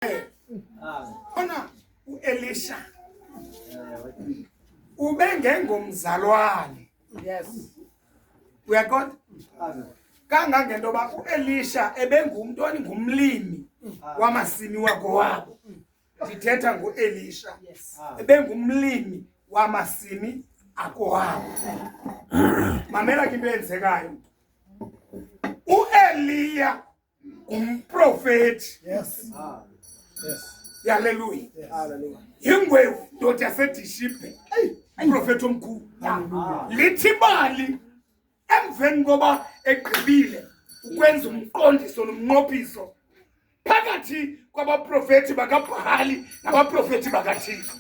naye. Ona uElisha ubengengomzalwane. Yes. Uyaqonda? Kangangento yoba uElisha ebengumntu oningumlimi wamasimi wakowabo. Ndithetha ngoElisha. Ebengumlimi wamasimi akuhamba mamela ke into eyenzekayo ueliya ngumprofeti yes. ah. yes. yaleluya yingwevu ndoda yasedishibhe umprofeti omkhulu lithi imali emveni koba egqibile ukwenza umqondiso nomnqophiso phakathi kwabaprofeti bakabhali nabaprofeti bakathixo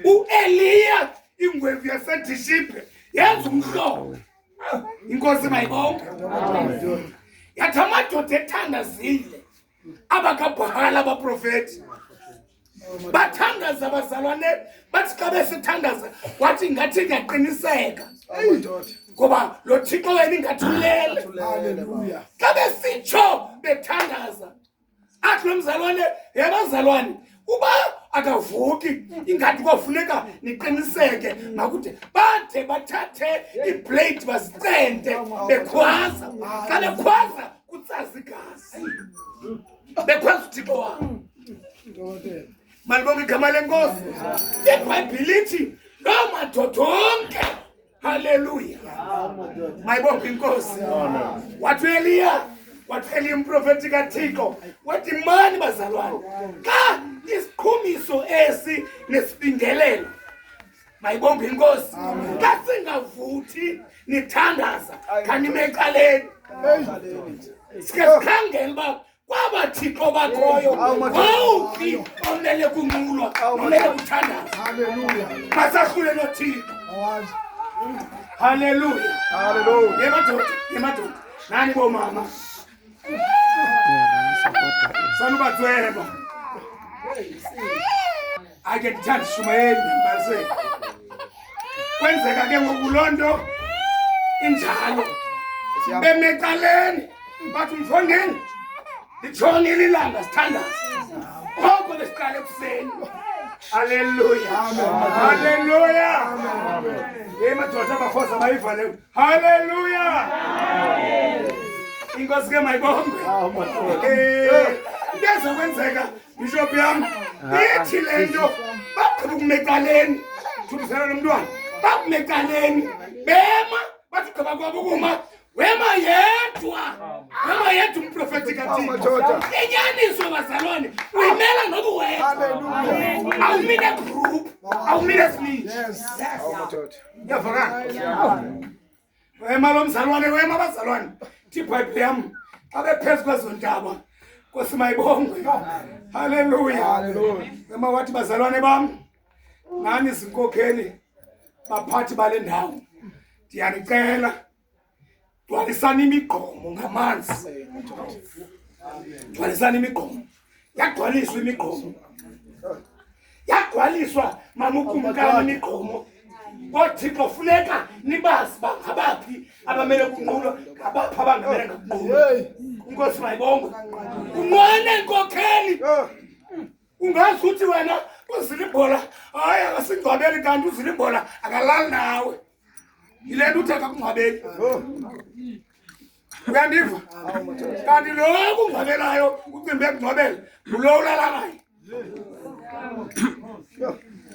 ueliya ingwevu yasedishibhe yenza umhlobo inkosi mayibonke yathi amadoda ethandazile abakabhala abaprofeti bathandaza abazalwane bathi xa besithandaza wathi ngathi ndiyaqiniseka ngoba lo thixo wena ingathulele xa besitsho bethandaza athi lo mzalwane yabazalwane uba akavuki ingathi kwafuneka niqiniseke makude bade bathathe iblade bazicente bekhwaza xa bekhwaza kutsaza igazi bekhwaza uthixo wam malibonga igama lenkosi ibhayibhile ithi loo madoda onke Haleluya. Maibopi nkosi. Watu Elia, watu Elia mprofeti katiko. Wati mani bazalwane. Ka isiqhumiso esi nesibingelelo. Mayibonge inkosi. Ka singavuthi nithandaza kanimecaleni. Sike sikhangele uba kwaba thixo bakhoyo wawuphi omele kunqulwa omele kuthandaza masahlule nothixo haleluya yemadoda yemadoda nani bomama sanubatsweba ake ndithanda ishumayeli ndimbase kwenzeka ke ngoku loo nto injalo bemecaleni bathi umfondeni litshonile ilanga sithandazi koko besiqale ekuseni Hallelujah. Hallelujah. Emadoda abafosa bayivale. Hallelujah. Inkosi ke mayibongwe. Into ezokwenzeka bishop yam ithi le nto baqhuba ukumecaleni thumisela lo mntwana bakumecaleni bema bathi gqiba kwabo ukuma wema yedwa wema yedwa umprofeti kathini inyaniso bazalwane uyimela noku wedwa awumile group awumile sninji yavakala Wema lo mzalwane, wema abazalwane. Thi Bible yam xa bephezu kwezo ntaba. Nkosi mayibongwe. Haleluya. Haleluya. Wema wathi bazalwane bam. Nani zinkokheli baphathi bale ndawo. Ndiyanicela gcwalisani imigqomo ngamanzi. Gcwalisani imigqomo. yagcwaliswa imigqomo yagcwaliswa mama ukumkani imigqomo koothixo funeka nibazi uba ngabaphi abamele kunqulo ngabaphi abangamele ngakunqulo unkosi mayibongwe unqwene nkokheli ungazi ukuthi wena uzile ibhola hayi akasingcwabeli kanti uzile ibhola akalali nawe yile nto uthe kakungcwabeli uyandiva kanti lo kungcwabelayo ucimbi ekungcwabela ngulo ulala naye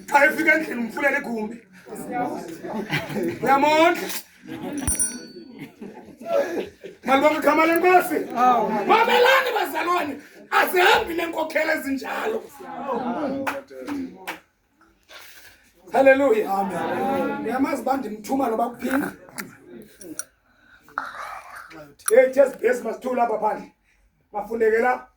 xa efika endlini umfulela igumbi uyamondla malibonke igama lenkosi mamelani bazalwane azihambi nenkokhela ezinjalo Haleluya. Amen. Yamazi bandimthuma loba kuphinda. Hey, just base masithula lapha phandle. Mafuneke lapha.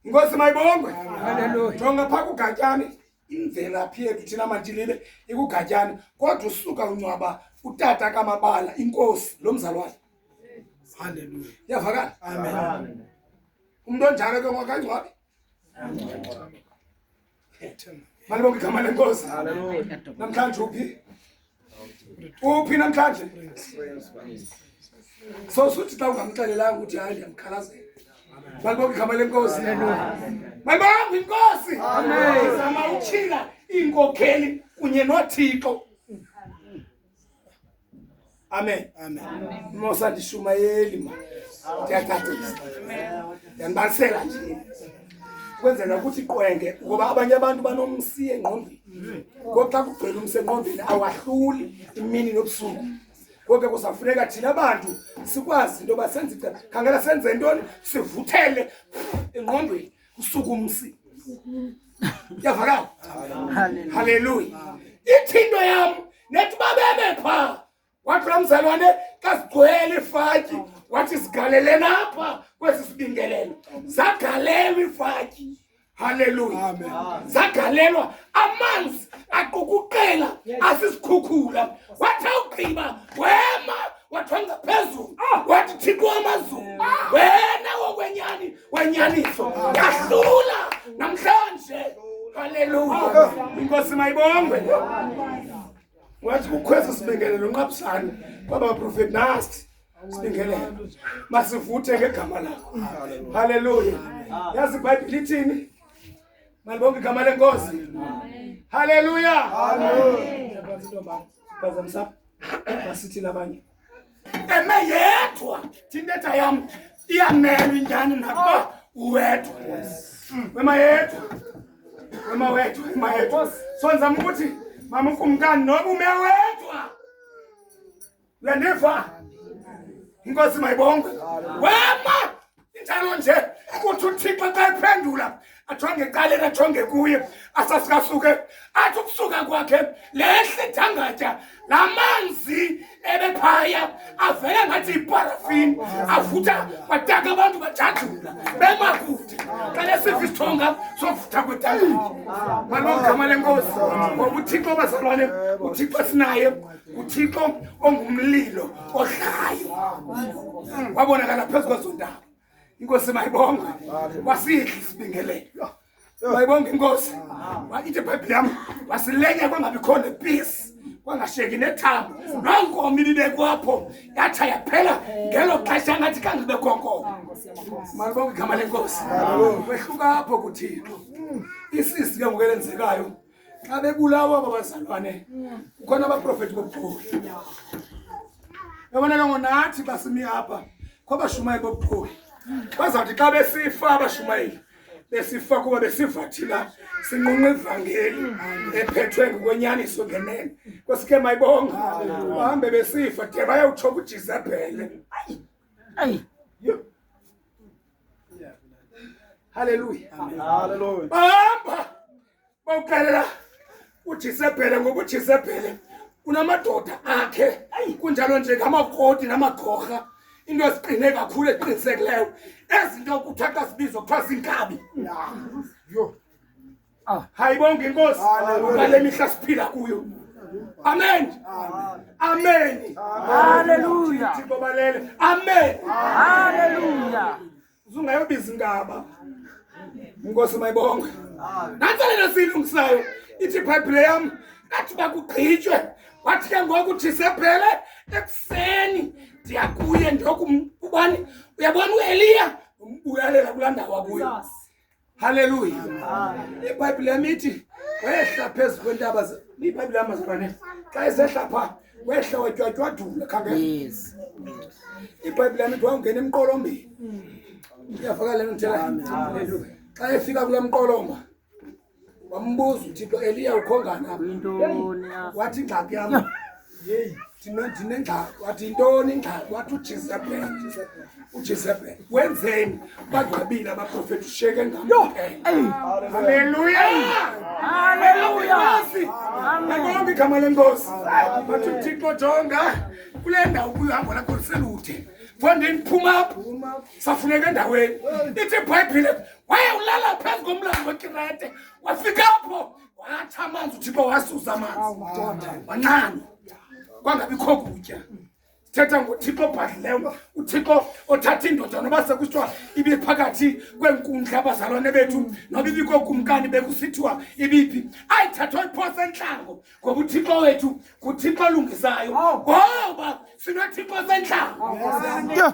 Inkosi mayibongwe. Haleluya. Jonga pha kugatyane imvelaphi yethu thina mantilile ikugatyane kodwa usuka uncwaba utata kamabala inkosi lo mzalwane. Haleluya. Yavakala. Amen. Umuntu onjalo ke ngokangcwabi. Amen. Malibonga igama lenkosi. Namhlanje uphi? Uphi namhlanje? So suthi xa ungamxelelanga ukuthi hayi ndiyamkhalazela. Malibonga igama lenkosi. Malibonga inkosi. Amen. Zama utyhila iinkokheli kunye noThixo. Amen. Amen. Mosa ndishumayeli ma. Ndiyaqaqisa. Ndiyambalisela nje. Kwenzela ukuthi qwenge ngoba abanye abantu banomsi engqondweni. Ngoxa kugcwele umsi engqondweni awahluli imini nobusuku. Konke kusafuneka thina bantu sikwazi into yoba senze khangela senze ntoni sivuthele engqondweni. usuku umsi yavakala haleluya ithi into yam nethi babebe phaa wathi laa mzalwane kazigcwele ifatyi wathi zigaleleni apha kwesi sibingelelo zagalelwa ifatyi haleluya zagalelwa amanzi aqukuqela asisikhukhula wathi awugqiba wema wathi wangaphezulu ah! wathi thixo wamazulu ah! wena wokwenyani wenyaniso yahlula namhlanje. Haleluya. Inkosi mayibongwe. Wathi kukhweza sibingelelo nqabusane kwaba prophet nasi sibingelelo. Masivuthe ngegama lakho. Haleluya. Yazi iBhayibhile ithini? Malibonke igama lenkosi. Haleluya. Amen. Basithi nabanye. Eme yedwa thina tayam iyamelwa injani nakuba uwedwa. Mm. Wema yedwa. Wema wethu, wema yedwa. So nzama ukuthi mama ukumkani noba ume wedwa. Uyandiva? Inkosi mayibongwe. Wema injalo nje ukuthi uthixo xa ephendula ajonge ecaleni ajonge kuye asasikasuke athi ukusuka kwakhe lehle dangatya la manzi ebephaya avele ngathi yiparafini avutha bataka abantu bajajula bemakude xa lesiva isithonga sovutha kwetanga malomgama lenkosi ngoba uthixo bazalwane uthixo sinaye uthixo ongumlilo odlayo wabonakala phezu kwezo ndawo inkosi mayibongwe wasihle isibingelelo mayibonge inkosi ithi ibhayibhile yam wasilenya kwangabi khona peace kwangasheki nethambo nonkomo ibibekwapho yatsha yaphela ngelo xesha ngathi khange ibe khonkomo malibonge igama lenkosi kwehluka apho kuthixo isisi ke ngoku elenzekayo xa bebulawa aba bazalwane kukhona abaprofeti bobukhulu yabona ke ngonathi basimi apha kwabashumayeli bobukhulu bazawuthi xa besifa abashumayeli besifa kuba besivathila sinqunqa ivangeli ephethwe ngokwenyaniso ngenene kwesike mayibonga bahambe besifa de bayawutsho kujizebhele ayi haleluya haleluya bahamba bawuxelela ujisebhele ngokujisebhele unamadoda akhe kunjalo nje ngamakoti namagorha into eziqine kakhulu eqinisekileyo ezinto kuthiwa xa sibizwa kuthiwa zinkabi yho ah. hayi bonke inkosi ngale mihla siphila kuyo amen amen haleluya thixo balele amen haleluya Usungayobiza ingaba. Inkosi mayibonge. Nantsalelo siyilungisayo ithi iBhayibhile yam kathi bakugqitywe wathi ke ngoku thisephele ekuseni ndiya kuye ndiyokumubani uyabona ueliya umbuyalela kulaa ndawo akuyo Haleluya. IBhayibhile yami ithi wehla phezu kwentaba iBhayibhile yami mazalwane xa isehla pha wehla watywatywadula khangela. Yes. IBhayibhile yami ithi wawungena emqolombeni. Iyavakala lento ngithela. Haleluya. Xa efika kule mqolomba wambuza uThixo Eliya ukhongana. Yintoni? Wathi ingxaki yami. yeyi ndinengxaki wathi yintoni ingxaki wathi ujezebhele ujezebhele wenzeni bagqabile abaprofeti ushiyeke ngamhaleluyaaleluyaangonke igama lenkosi wathi uthixo jonga kule ndawo kuhambo lakho liselude fondini phuma apho safuneka endaweni ithi ibhayibhile waye ulala phezu komlambo wekirete wafika apho Watsha amanzi uThixo wasusa amanzi. Wanqana. Kwangabikho kutya. Sithetha ngoThixo obhadlileyo, uThixo othatha indoda noba sekuthiwa ibiphakathi kweenkundla abazalwane bethu noba ibikho kumkani bekusithiwa ibiphi. Ayithathwa iphose entlango ngoba uThixo wethu nguThixo olungisayo. Ngoba sinoThixo sentlango. Yeah.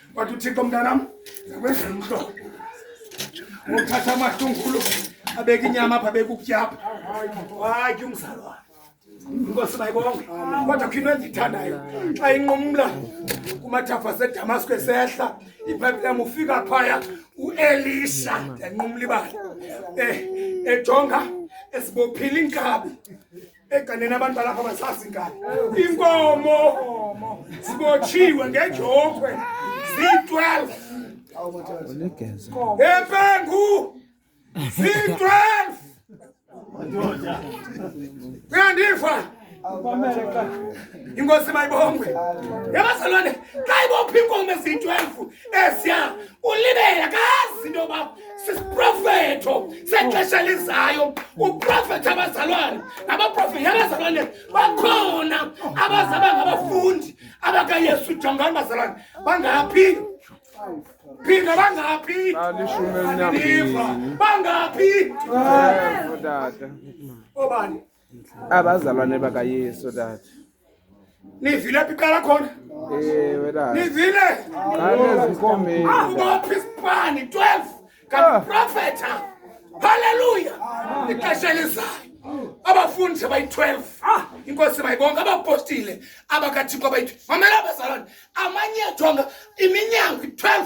Wathi uThixo mntanam, zakwenza umhlo. Ngokuthatha amahlungulu abeka inyama apha abeka ukutyapha. Hayi ke umzalwane. Inkosi mayibonge. Kodwa kho into endiyithandayo xa inqumla kumathafa aseDamasko esehla iBhayibhile yam ufika phaya uElisha yanqumla ibala. Eh ejonga esibophile inkabi eganeni abantu balapha basazi ngani inkomo zibotshiwe ngejokhwe ziyi-12 empengu ziyi-12 uyandiva inkosi mayibongwe yabazalwane xa ibopha inkomo eziyi-12 esiya ulibela kazi into yoba sisiprofeto sexesha elizayo uprofethi abazalwane nabaprofethi abazalwane bakhona abazaba ngabafundi abakayesu jongani bazalwane bangaphi phinda bangaphi bangaphi obani abazalwane bakayesu tata nivile phi qala khona ewe tata nivile anezinkomeni ubaphi isipani 12 kaprofetha haleluya ixesha elizayo abafundi abayi-12 ah, inkosi bayibonke abapostile abakathixo abayi-12 mamela abazalwane amanyethonga iminyango i-12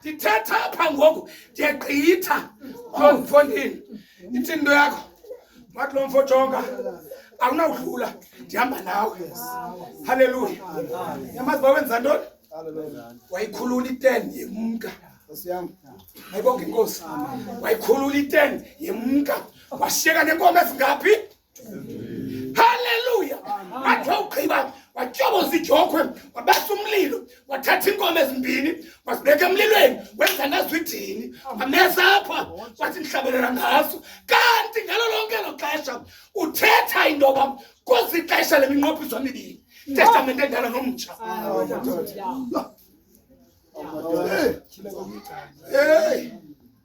ndithetha apha ngoku ndiyagqitha oh mfondini ithi into yakho wathi lo mfo jonga awunawudlula ndihamba nawe halleluya yamazi bawenza ntoni wayikhulula iten yemka ayibonga inkosi wayikhulula iten yemka washiyeka nenkomo ezingaphi Haleluya! Athi wawugqiba watyoboza ijokhwe, wabasa umlilo, wathatha iinkomo ezimbini, wazibeka emlilweni, wenza nazo idini, wamesa apha, wathi ndihlabelela ngaso. Kanti ngalo lonke lo xesha uthetha into yoba kuzi ixesha le minqophiso mibini, testamente endala nomtsha. Hey!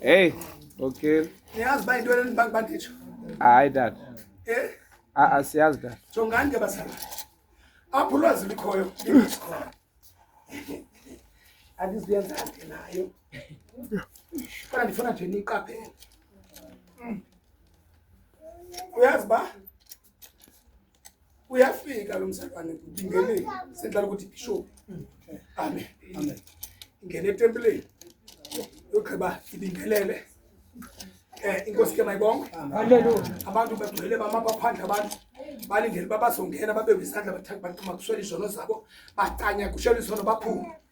Hey, okay. Niyazi ba into eleni bantu banditsho. Hayi dad. Eh? Ah, ah siyazi dad. Jongani ke basana. Apho ulwazi likhoyo, likhona. Andiziyenza nje nayo. Kodwa ndifuna nje niqaphele. Uyazi ba? uyafika lo mzalwane ndingenile sendlala ukuthi bishop amen amen ingene etempileni yogqiba ibingelele eh inkosi ke mayibonke haleluya abantu bagcwele bama baphandle abantu balindele babazongena babe kwisandla bathatha bantu makuswela izono zabo bacanya kushela izono baphume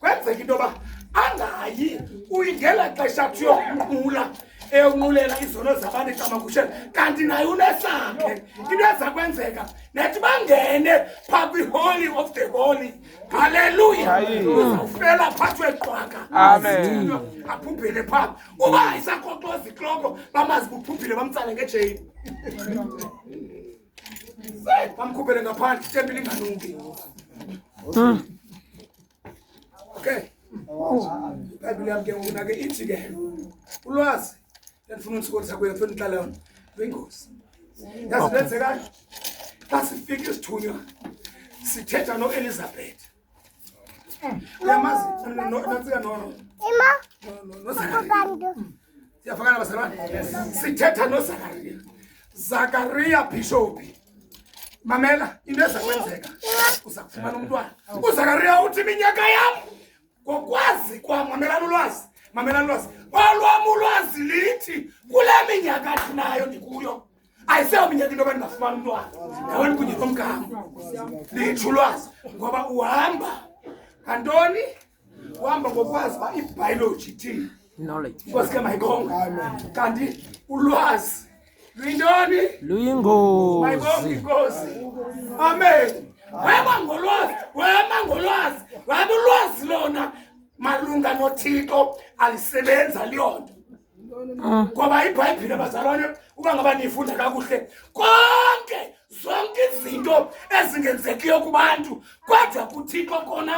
kwenzeka into yoba angayi uyingela xesha athi uyokunqula eunqulela izono zabantu ecamagushela kanti naye unesakhe into eza kwenzeka nethi bangene phaa kwiholy of the holy halleluya uzawufela phathwe qwaka aphuphile phaa uba ayisakhoxoza ikloko bamazi kuphuphile bamtsale ngejeyini Bamkhuphele ngaphandle itempi linganuki. Hmm. Okay. Bibhayibhile yam ke ngoku nake ithi ke ulwazi endifuna undisokolisa kuyo funa ndihlala yona luyingozi yazi lenzekani xa sifika isithunywa sithetha noelizabeth siyafakana bazalwane sithetha nozakariya zakariya bhishophi mamela into eza kwenzeka uza kufumana umntwana uzakariya uthi iminyaka yam ngokwazi kwam mamelani ulwazi mamelani ulwazi olwam ulwazi lithi kule minyaka thinayo ndikuyo ayiseo minyaka into abantu bafumana umntwana ngawani kunye nomgama litsho ulwazi ngoba uhamba ngantoni uhamba ngokwazi uba ibhayoloji ithini nkosi ke mayikonga kanti ulwazi luyintoni luyingozi inkosi amen weba ngolwazi wema ngolwazi weba ulwazi lona malunga nothixo alisebenza liyonto ngoba ibhayibhile bazalwane uba ngaba niyifunda kakuhle konke zonke izinto ezingenzekiyo kubantu kodwa kuthixo kona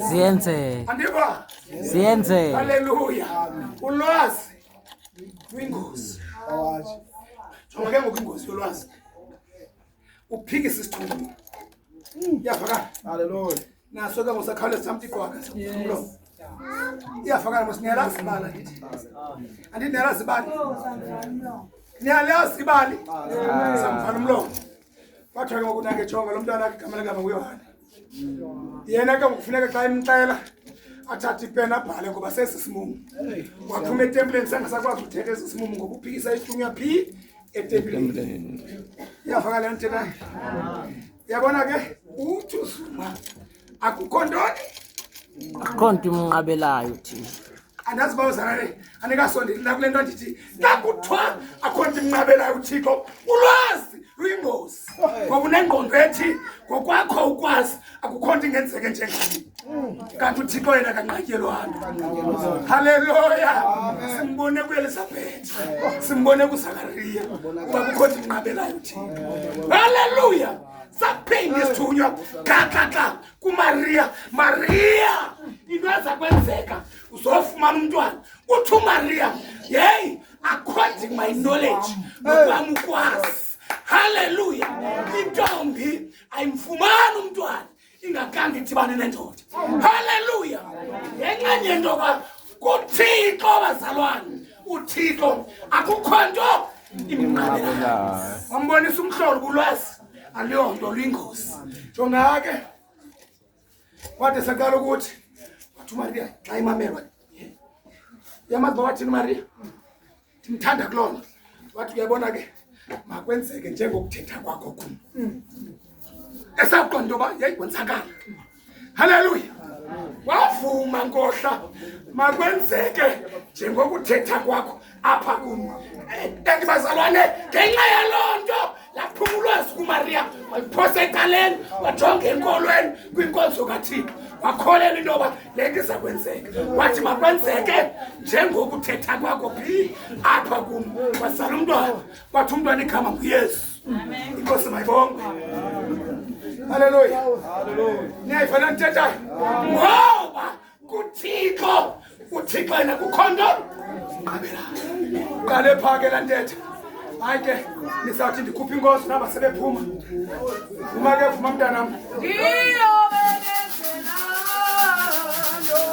ziyenzeka andiva ziyenzeka halleluya ulwazi kwingozi jonga ke ngoku ingozi yolwazi uphikisa isithunywa iyavakala halleluya naso ke ngosakhawuleza samtiqwaka umlomo iyafakana mos niyalazi ibali andithi anditi niyalazi ibali niyalazi ibali samfana umlomo kwathiwa ke ngokunake jonga lo mntwana akhe igama legama nguyohane yena ke ngokufuneka xa imxela athathe ipena abhale ngoba sesi simumu waphuma etempileni sangasakwazi uthetha esi simumu ngoba uphikisa ihlungu yaphi etempileni iyafakala yantena Yabona ke uthi uZuma akukho ntoni? Akukho nto imnqabelayo thina. Andazi uba uzana le anikasondeli nakule nto ndithi nakuthiwa akukho nto imnqabelayo uThixo ulwazi luyingozi ngoba unengqondo ethi ngokwakho ukwazi akukho nto ingenzeke njengani. kanti uthixo yena kanqatyelwana halleluya simbone kuelizabhethi simbone kusakariya uba kukho ndinqabelayo thixo halleluya saphinde isithunywa xaxaxa kumariya mariya into eza kwenzeka uzofumana umntwana uthi umariya yeyi according my knowledge nokwam ukwazi halleluya intombi ayimfumani umntwana ingakhange idibane nendoda halleluya ngenxeni yento yoba kuthixo bazalwane uthixo akukho nto imnqabelayo wambonisa umhlolo kulwazi aluyonto luyingozi jongake wade saqala ukuthi wathi umariya xa imamelwa yamazi ba wathini umariya ndimthanda kuloo nto wathi uyabona ke makwenzeke njengokuthetha kwakho kum esawuqonda into yoba yayikwenzakala halleluya wavuma nkohla makwenzeke njengokuthetha kwakho apha kum and eh, bazalwane ngenxa yaloo nto laphuma ulwazi kumariya waliphosa etaleni wajonga enkolweni kwinkonzo kathixo wakholelwa into yoba le nto iza kwenzeka wathi makwenzeke njengokuthetha kwakho phi apha kum wazala umntwana wathi umntwana igama nguyesu inkosi mayibonge halleluya niyayifana ndithethayo ngoba kuthixo uthixo yena kukho nto qabela qale phaa ke laa ntetha hayi ke nisawuthi ndikhuphe inkosi naba sebephuma vuma ke vuma mntanam